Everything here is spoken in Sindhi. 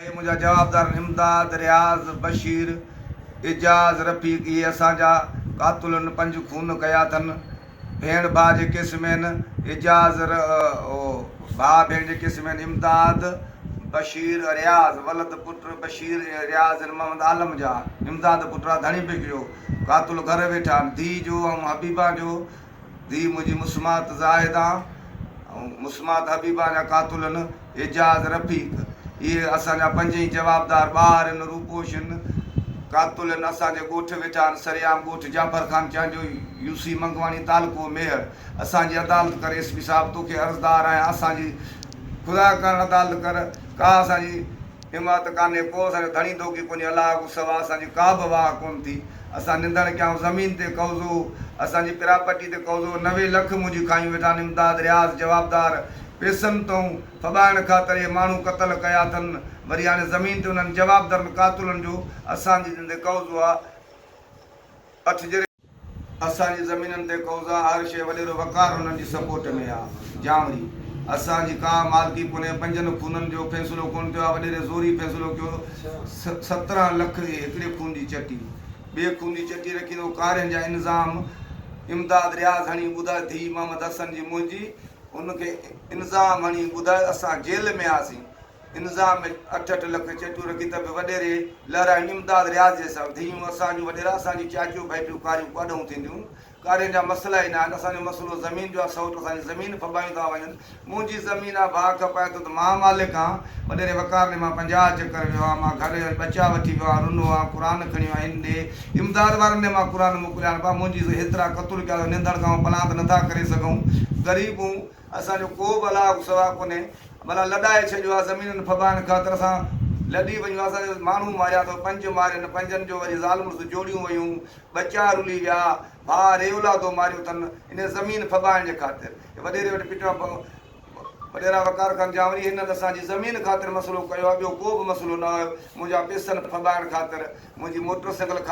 اهي منهنجا جوابدارن امداد، رياض، بشير، اعجاز، رفيق اهي اسان جا قاتلن پنج خون ڪيا اٿن. ڀيڻ ڀاء جي ڪيس ۾ هن اعجاز ر او ڀاء ڀيڻ جي ڪيس ۾ هن امداد، بشير، رياض ولد پٽ بشير ۽ رياض هن محمد عالم جا امداد پٽ آ ڌڻي پيڪ جو قاتل گهر ويٺا آهن ڌيء جو ۽ حبيبه جو ڌيء منهنجي مسمات زاهده ۽ مسمات حبيبه جا قاتلن اعجاز رفيق اهي اسان جا پنج ئي جوابدار ٻار هن روپوش هن قاتلن اسان جي ڳوٺ ويٺا آهن سريام ڳوٺ جعفر خان چانڊيو يو سي منگواڻي تعلقو ميهڙ اسان جي عدالت ڪر ايس پي صاحب توکي عرضدار آهيان اسان جي خدا ڪرڻ عدالت ڪر ڪا اسان جي حمايت ڪانهي ڪو اسان جو ڌڻي دوکي ڪونهي الله کان سوا اسان جي ڪا به واهه ڪونه ٿي اسان نندڻ ڪيائون زمين تي قوضو هو اسان جي پراپرٽي تي قوضو هو نوي لک منهنجي کايون ويٺا آهن امداد رياض جوابدار پيسن تئون ڦٻائڻ خاطر اهي ماڻهون قتل ڪيا اٿن وري هاڻي زمين تي انهن جوابدرن قاتلن جو اسان جي زندي قوضو آ اٺ جري اسان جي زمينن تي قوضا هر شيء وڏيرو وقار انهن جي سپورٽ ۾ آ جانوري اسان جي ڪا مالڪي ڪونهي پنجن خونن جو فيصلو ڪونه ٿيو آ وڏيري زوري فيصلو ڪيو سترهن لک اهي هڪڙي خون جي چٽي ٻئي خون جي چٽي رکيندو ڪارين جا انظام امداد رياض هڻي ٻڌاء ڌيء محمد حسن جي منهنجي ان کي انظام هڻي ٻڌاء اسان جيل ۾ آسين انظام ۾ اٺ اٺ لک چيٽيون رکي ته به وڏيري لهرائين امداد رياض جي سان، ڌيئون اسان جون وڏيرا اسان جون چاچيون ڀائٽيون ڪاريون ڪاڏهون ٿينديون، ڪارين جا مسئلا ئي نه آهن، اسان جو مسئلو زمين جو آهي، سئوٽ اسان جي زمين ڦٻايون ٿا وڃن، منهنجي زمين آهي ڀاء کپائي ٿو ته مان مالڪ آهيان، وڏيري وقار ڏي مان پنجاهه چڪر ويو آهيان، مان گهر ويو آهيان ٻچا وٺي ويو آهيان، رنو آهيان قرآن کڻيو آهيان هن ڏي، امداد وارن ڏي مان قرآن موڪليا آهن، ڀاء منهنجي هيترا قطر ڪيا اٿئون ننڌڻ کان پناهه ته نٿا ڪري سگهون، غريب هون. اسان جو ڪو به الله کان سوا ڪونهي. ڀلا لڏائي ڇڏيو آ زمينن ڦٻائڻ خاطر اسان لڏي وڃون اسان جا ماڻهو ماريا اٿو پنج مارين پنجن جو وري زال مڙس جوڙيون ويون ٻچا رلي ويا ڀاء ري اولادو ماريو اٿن انهي زمين ڦٻائڻ جي خاطر اي وڏيري وٽ پٽيون پئو وڏيرا وقار خان جانوري هنن اسان جي زمين خاطر مسئلو ڪيو آ ٻيو ڪو به مسئلو نه آيو منهنجا پيسن ڦٻائڻ خاطر منهنجي موٽر سائيڪل